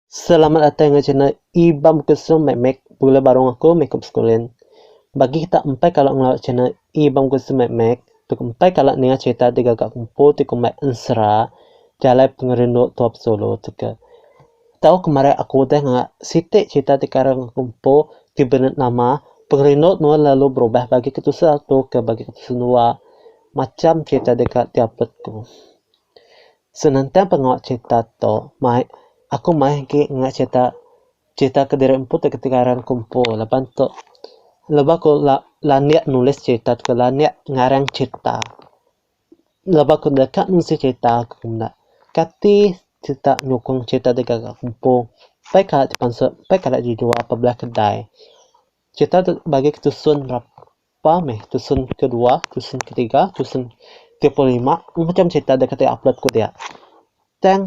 Selamat datai enggau channel Ibam Kusum Mek Mek bula baru enggau aku meh ku beskulin. Bagi kita empai kala ngelalu channel Ibam Kusum Mek Mek tu ku empai kala ninga cherita digaga ku empu ti ku mai ensera jalai pengerindu tua pesulu tu ke. Tau kemari aku udah nganga siti cherita ti kara enggau ku empu ti beri nama Pengerindu Nuan Lalu Berubah Bagi Ketusa tu ke bagi ketusa dua macham cherita deka diapit ku. Senentang pengawa cerita tu mai aku mai agi ingat cerita cerita kediri empu ti kitai ngaran ku empu laban tu laban aku landik nulis cerita tu landik ngarang cerita laban aku deka nulis cerita aku menda kati kita nyukung cerita ti gaga ku empu pia kala ti pansut pia kala ti jua pebila kedai cerita tu bagi ku tusun. Pa meh tusun kedua, tusun ketiga, tusun tiga puluh lima. Macam cerita da katai upload ku dia. Tang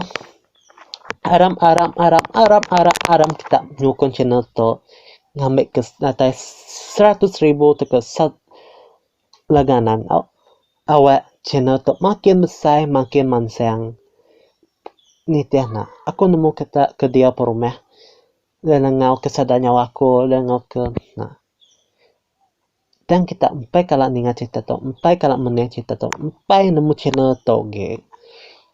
aram aram aram aram aram aram kita nyukung channel tu ngambi ke datai seratus ribu tauka sat langganan au awak channel tu makin besai makin mansang. Nitih ne aku nemu kita ke dia perumah Dia nengau ke sada nyawa aku, dia nengau ke aa tang kita empai kala ninga cerita tu, empai kala menang cerita tu, empai nemu channel tu gek.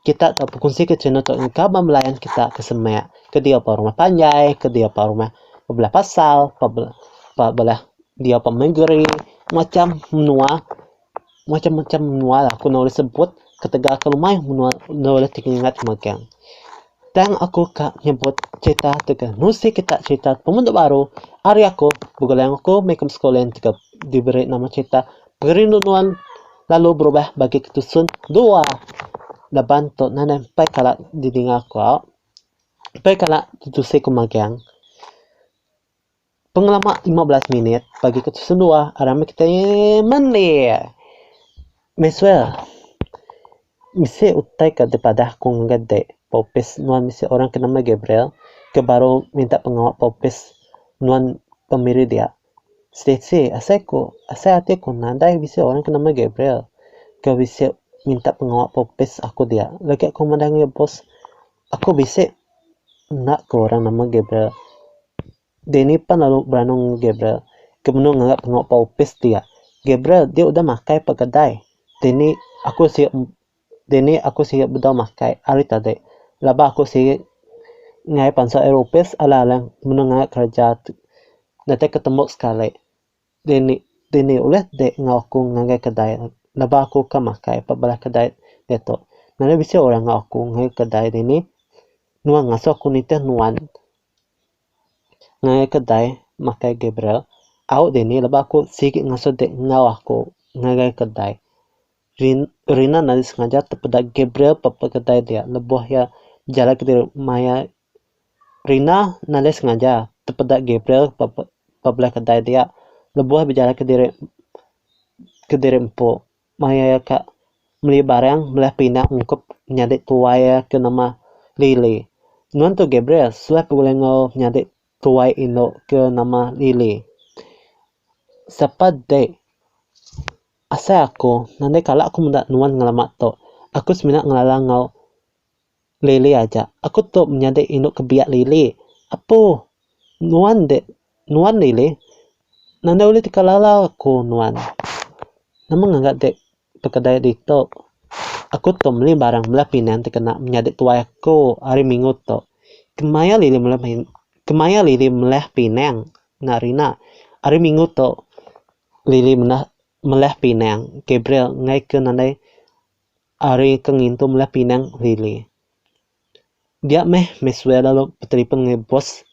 Kita tau bekunsi ke channel tu engka ba layan kita ke semak, ke diau ba rumah panjai, ke diau ba rumah bebelah pasal, ba belah diau ba mengeri, macam menua Macam-macam menua lah aku enda ulih sebut ketegal aku rumah menua enda ulih ti ingat megang. Tang aku ka nyebut cerita tegal nusi kita cerita pengundu baru ari aku begulai enggau aku meh ke sekula enggau diberi nama cerita Perindu Nuan Lalu Berubah Bagi Ke Tusun Dua laban tu nadai empai kala didinga aku, empai kala ditusi ku megang. Pengelama lima belas minit bagi ke tisen dua aram meh kitai mendir. Maxwell, bisi utai ke dipadah ku ngagai dek ba opis nuan bisi orang ke nama Gabriel ke baru minta pengawa ba opis nuan pemiri dia. Stacy, asai ku asai ati ku nadai bisi orang ke nama Gabriel ke bisi minta pengawa ba opis aku dia. Legi aku madah ngagai boss aku bisi enda ke orang nama Gabriel. Dini pan lalu beranung Gabriel ke menu nganggap tengok ba opis dia. Gabriel dia udah makai pa kedai. Dini aku siok dini aku siok bedau makai hari tadi laban aku siok ngai pansa ari opis alang-alang menu nganggap kereja tu. Datai ketemu sekali. Dini dini ulih dek enggau aku ngagai kedai leba aku ke makai ba bala kedai diatu. Nadai bisi orang enggau aku ngagai kedai dini. Nuan ngasuh aku nitih nuan ngagai kedai makai Gabriel. Au dini leba aku sigi ngasuh dek enggau aku ngagai kedai. Rin Rina nadai sengaja tepeda Gabriel ba kedai dia lebuh iya bejalai kedirik maya Rina nadai sengaja tepeda Gabriel ba bela kedai dia lebuh bejalai kediri kediri empu maya iya ka meli barang meli pina ungkup nyadi tuai iya ke nama Lily. Nuan tu Gabriel suah ke bulih enggau nyadi tuai indu ke nama Lily. Sapa dek asai aku nadai kala aku meda nuan ngelama tu. Aku semina ngelala enggau. Lily aja. Aku tu menyadi indu ke biak Lily. Apu. Nuan dek. Nuan Lily. Nanda ulih teka lala aku nuan. Nama ngaga dek pekedai ditu. Aku tu meli barang bela pinang ti kena menyadi tuai aku hari minggu tu. Kemaya Lily meli pin kemaya Lily meleh pinang enda ari ina. Hari minggu tu Lily menda meleh pinang Gabriel ngagai ke nadai Ari ke ngintu mula pinang Lily. Dia meh Maxwell lalu betelefon ngai bos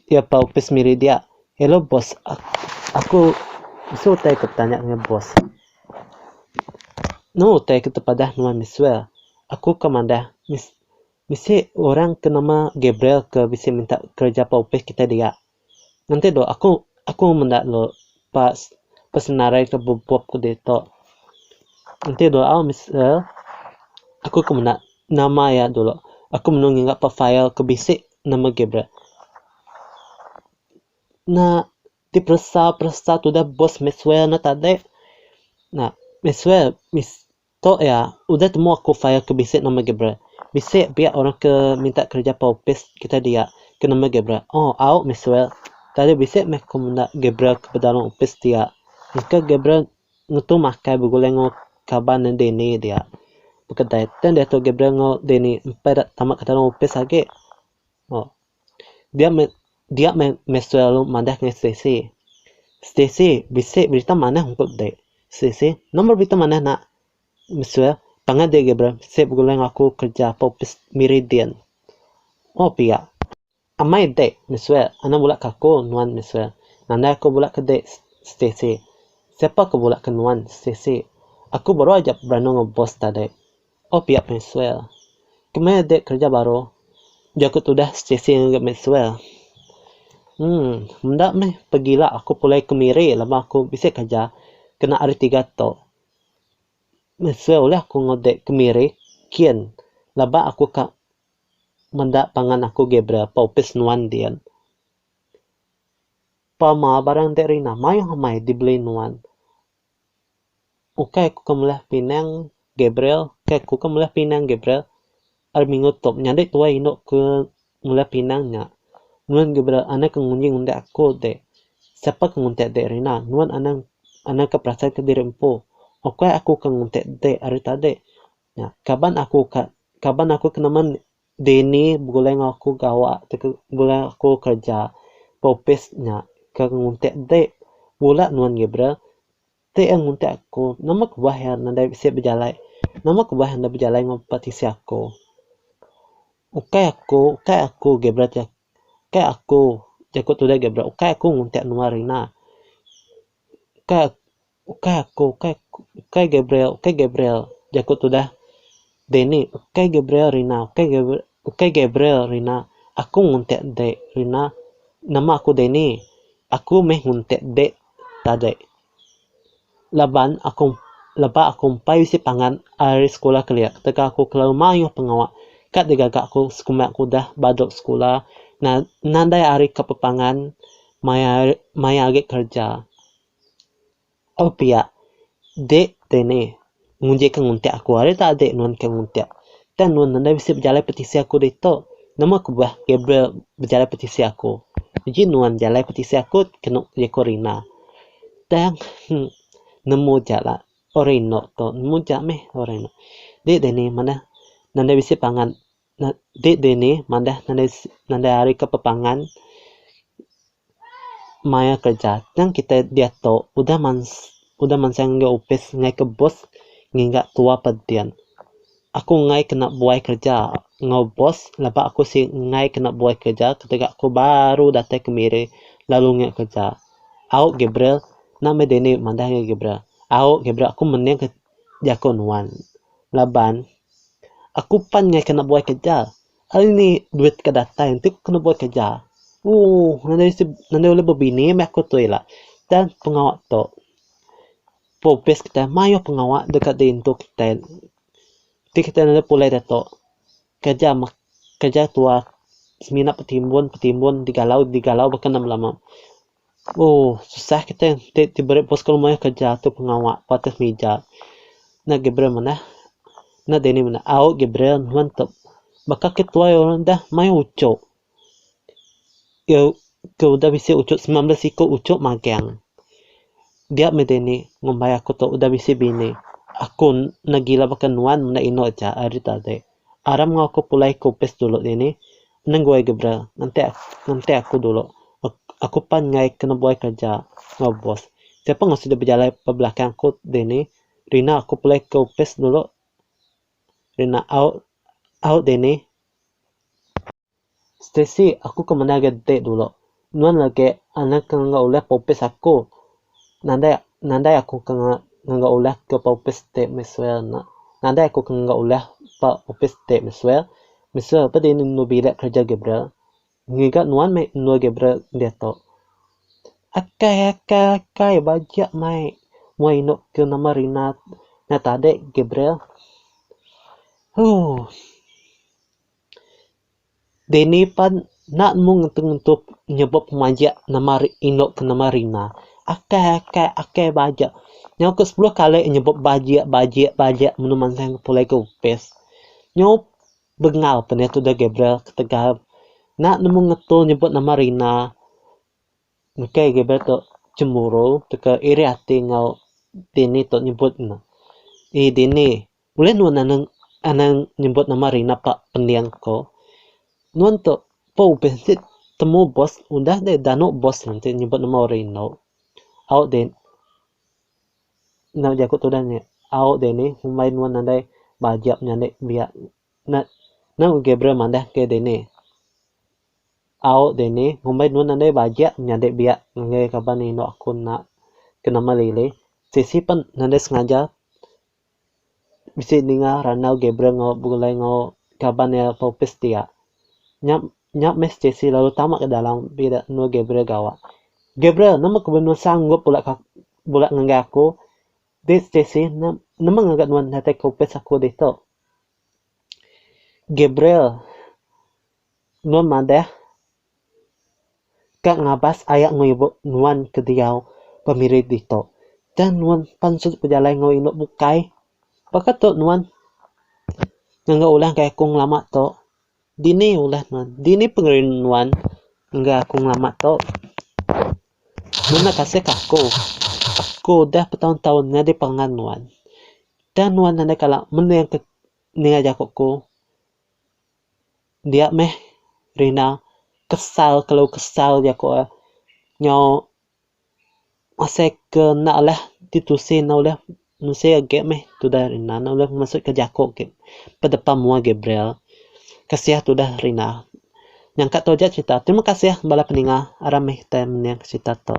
iya ba opis miri dia. Hello bos, aku mesu utai ke betanya ngai bos. Nau utai ke tepadah nuan Maxwell. Aku ka madah misi orang ke nama Gabriel ke bisi minta kereja ba opis kitai dia. Nganti tu aku aku menda lu pas pesenarai ke bebup ke ditu. Nganti tu au misa aku ke menda nama iya dulu. Aku menu ngiga pa file ke bisi ne megi bra. Na diperesa peresa tudah bos meh sual ne tadi. Na meh sual Tu iya, udah temu aku file ke bisi nama Gabriel. Bisi pia orang ke minta kereja pa opis kitai dia ke nama Gabriel. Oh, au, Maxwell. Tadi bisi meh aku menda Gabriel ke pedalam opis dia. Nyengka Gabriel ngetu makai begulai enggau kaban iya Danny dia bekedai. Tang diatu Gabriel enggau Danny empai ida tama ke dalam opis agi. Oh. Dia me dia me mesti lalu madah ngai Stacy. Stacy, bisi berita manah engku dek. Stacy, nama berita manah nak? Mesti pangan dia Gabriel, si begulai enggau aku kerja ke opis Meridian. Oh pia. Amai dek, mesti enda bela ke aku nuan mesti. Nandai aku bela ke dek Stacy. Siapa ke bela ke nuan Stacy. Aku baru aja beranu enggau bos tadi. Oh pia Maxwell. Kemai adik kereja baru ujar ku tudah sechisi ngagai Maxwell. Emm enda meh pegila aku pulai ke miri laban aku bisi kereja kena hari tiga tu. Maxwell ulih aku ngudik ke miri kin laban aku ka meda pangan aku Gabriel ba opis nuan din. Pama barang enti rina mayuh amai dibeli nuan. Ukai aku ke meulah pinang Gabriel, ukai aku ke meulah pinang Gabriel. Ari minggu tu menyadi tuai indu ke meulah pinang nya. Nuan Gabriel anang ke nguji ngundah aku dek. Sapa ke ngundah dek ari ina? Nuan anang anang ke perasaika diri empu. Ukai aku ke ngundah dek ari tadi. Nya kaban aku ka kaban aku ke nama ne. Dini begulai enggau aku gawa ataupun begulai enggau aku kereja ba opis nya ke nguntik enti bula nuan Gabriel ti iya nguntik aku nama kebah iya nadai bisi bejalai nama kebah iya enda bejalai enggau bala tisi aku. Ukai aku ukai aku Gabriel ti ukai aku jaku tudah Gabriel ukai aku nguntik nuan Rina ukai. Ukai aku, ukai aku, ukai Gabriel, ukai Gabriel, jaku tudah Danny, ukai Gabriel Rina, ukai Gabriel, ukai Gabriel Rina, aku nguntit dek Rina, nama aku Danny, aku meh nguntit dek tadek. Laban aku leba aku empai bisi pangan ari sekula kelia ketegal aku kelalu mayuh pengawa ka digaga aku sekumba aku udah badu sekula nan nadai ari ka pepangan maya maya agi kerja. Au pia, dek te ne nguji ke nguntik aku ari tau dek nuan ke nguntik. Tang nuan enda bisi bejalai petisi aku ditu. Nama kebah Gabriel bejalai petisi aku. Uji nuan jalai petisi aku kenu uji aku rina. Tang heh nemu ja la orang inu tu nemu ja meh orang inu. Dek te ne manah enda bisi pangan. Nah, date deh nih madah nadai nadai hari ke pepangan maya kerja. Tang kitai diatu udah mans udah mansang enggau opis ngaih ke bos ngiga tua pa din. Aku ngaih kena buai kerja enggau bos laba aku si ngaih kena buai kerja ketegal aku baru datai ke miri lalu nge kerja. Au Gabriel, na meh deh nih madah nge Gabriel. Au Gabriel aku mening jaku nuan laban aku pan ngai kena buai kerja hari ni duit ke datai enti ku kena buai kerja ooh nadai ulih bebini meh aku tu ila dan pengawa tu opis kitai mayuh pengawa deka diintu kitai ti kitai nulai pulai diatu kerja mak kerja tuwa semina betimbun betimbun digalau digalau baka ne lama. Ooh susah kitai enti ti beri pun sekul mayuh kereja tu pengawa pa atus mija. Nya Gabriel manah. Nya Danny manah. Au Gabriel nuan tu baka ke tuai orang dah mayuh uchu. Ke ke udah bisi uchu sembilan belas iku uchu magang. Dia meh Danny ngumbai aku tu udah bisi bini. Aku ne gila baka nuan menda inu aja ari tadi. Aram enggau aku pulai ke opis dulu dini. Nenggoi ga bra, ngenti ngenti aku dulu. Aku pan enggai ke nebuai kereja enggau bos. Siapa enggau sida bejalai ba belakang aku dini. Rina aku pulai ke opis dulu. Rina au au dini. Stacey, aku ke mendar ga dek dulu. Nuan legi anak ke enggau ulih popis aku. Nadai nadai aku ke enggau ulih ke popis dek mesui ena. Nadai aku ke enggau ulih pa opis dek mesui. Mesui pa dini endur bilik kerja Gabriel. Ngiga nuan meh endur Gabriel diatu. Akai akai akai bajak mai mua inu ke nama Rina nya tadi Gabriel. Hoo. Dini pan enda mung ngentu-ngentu nyebut pemaja nama indu ke nama rina. Akai akai akai baja. Nyau ke sepuluh kali nyebut baja baja baja menu mansang ke pulai ke opis. Nyau bengal pan iya tudah Gabriel ketegal enda nemu ngetu nyebut nama rina. Engkai Gabriel tu cemburu tauka iri ati enggau Dini tu nyebut ne. Ih Dini. Ulih nuan anang anang nyebut nama ari napa pending ko. Nuan tu pa ubin ti temu bos udah deh danu bos nuan ti nyebut nama orang indu. Au deh enda jaku tudah nya au deh nih mbai nuan nadai bajak nyadi biak na nau Gabriel madah ke deh nih. Au deh nih mbai nuan nadai bajak nyadi biak ngagai kaban indu aku enda ke nama lilih sisi pen nadai sengaja. bisi ninga randau Gabriel enggau begulai enggau kaban iya Popis ti iya. Nya nya meh si Chelsea lalu tama ka dalam bi ida endur Gabriel gawa. Gabriel nama ke belu sanggup bula ka bula ngagai aku di si Chelsea ne nama ngaga nuan datai Popis aku ditu. Gabriel nuan madah. Ka ngabas aya enggau ibu nuan ke diau pemiri ditu. Tang nuan pan sud bejalai enggau indu bukai. Baka tu nuan ngaga ulah enggai aku ngelama tu. Dini ulah nuan? Dini pengerindu nuan ngaga aku ngelama tu? Nulung neg kasih ke aku. Aku udah betaun-taun nyadi perangan nuan. Tang nuan andai kala mendingka ninga jaku ku. Dia meh Rina kesal kelu kesal jaku e nyau asai ke enda alih ditusi enda ulih menusi agi meh tudah Rina enda ulih mesu ke jaku agi bedepan mua Gabriel kasiah tudah Rina nyangka tou aja cerita terima kasih bala peninga aram meh kitai mening cerita tou.